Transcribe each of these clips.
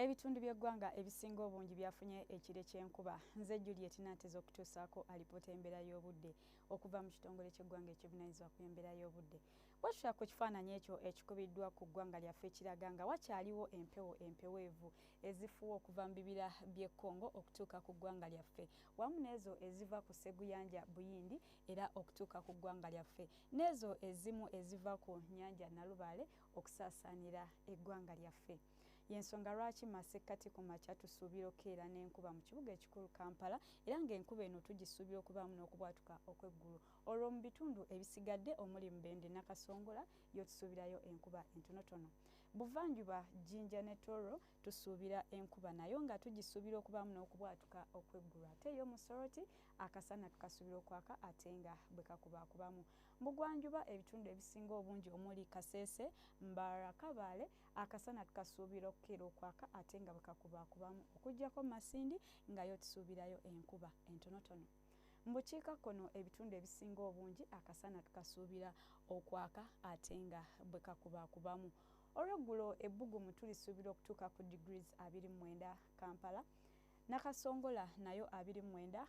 Ebitundu by'eggwanga ebisinga obungi byafunye ekire ky'enkuba. Nze Juliet Nanteza okutuusaako alipoota embeera y'obudde okuva mu kitongole ky'eggwanga ekivunaanyizibwa ku embeera y'obudde. Bwetutya ku kifaananyi ekyo ekikubiddwa ku ggwanga lyaffe ekiraga nga wakyaliwo empewo empeweevu ezifuwa okuva mu bibira by'e Congo okutuuka ku ggwanga lyaffe wamu n'ezo eziva ku sseguyanja Buyindi era okutuuka ku ggwanga lyaffe n'ezo ezimu eziva ku nnyanja Nalubaale okusaasaanira eggwanga lyaffe. yensonga lwaki masekkati ku makya tusuubira okukeera n'enkuba mu kibuga ekikulu kampala era ng'enkuba eno tugisuubira okubaamu n'okubwatuka okw'eggulu olwo mu bitundu ebisigadde omuli mubende nakasongola yo tusuubirayo enkuba entonotono buvanjuba jinja ne toro tusuubira enkuba nayo nga tugisuubira okubaamu n'okubwatuka okw'eggulu ate yo musoroti akasana tukasuubira okwaka ate nga bwe kakubaakubamu mugwanjuba ebitundu ebisinga obungi omuli kasese mbarakabaale akasana tukasuubira okukera okwaka ate nga bwekakubaakubamu okujjako masindi ngayo tusuubirayo enkuba entonotono mu bukiika kkono ebitundu ebisinga obungi akasana tukasuubira okwaka ate nga bwekakubaakubamu olweggulo ebbugumu tulisuubira okutuuka ku degrees 29 kampala nakasongola nayo 29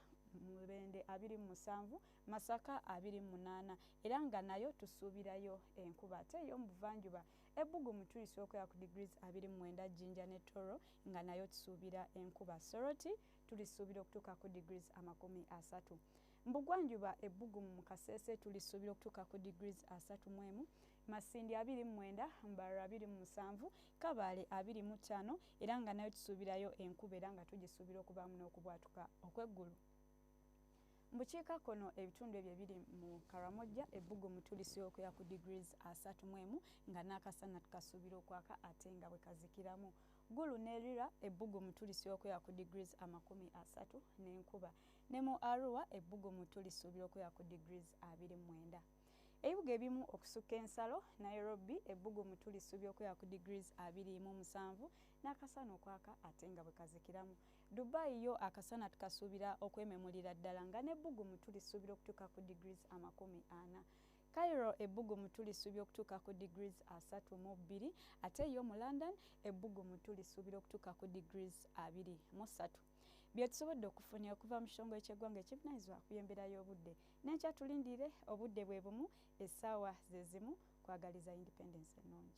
mubende 27 masaka 28 era nga nayo tusuubirayo enkuba ate eyomubuvanjuba 29 Ebbugumu tulisa okuya ku degrees abiri mu mwenda Jinja ne Toro nga nayo tusuubira enkuba. Soroti tulisuubira okutuuka ku degrees amakumi asatu. Mbugwanjuba ebbugumu mu Kasese tulisuubira okutuuka ku degrees asatu mu emu, Masindi abiri mu mwenda, Mbarara abiri mu musanvu, Kabaale abiri mu ttaano era nga nayo tusuubirayo enkuba era nga tugisuubira okubaamu n'okubwatuka okw'eggulu. Mu bukiikakkono ebitundu ebyo ebiri mu Karamojja ebbugumu tulisookoya ku degrees asatu mu emu nga n'akasana tukasuubira okwaka ate nga bwe kazikiramu. Gulu ne Lira ebbugumu tulisookoya ku degrees amakumi asatu n'enkuba. Ne mu Arua ebbugumu tulisuubira okuya ku degrees abiri mu mwenda. Ebibuga ebimu okusukka ensalo Nairobi ebbugumu tulisuubira okuya ku degrees abiri mu musanvu n'akasana okwaka ate nga bwe kazikiramu. Dubai yo akasana tukasuubira okwememulira ddala nga n'ebbugumu tulisuubira okutuuka ku degrees amakumi ana. Cairo ebbugumu tulisuubira okutuuka ku degrees asatu mu bbiri ate yo mu London ebbugumu tulisuubira okutuuka ku degrees abiri mu ssatu. Bye tusobodde okufuna okuva mu kitongole ky'eggwanga ekivunaanyizibwa ku by'embeera y'obudde n'enkya tulindire obudde bwe bumu essaawa ze zimu kwagaliza independence ennungi.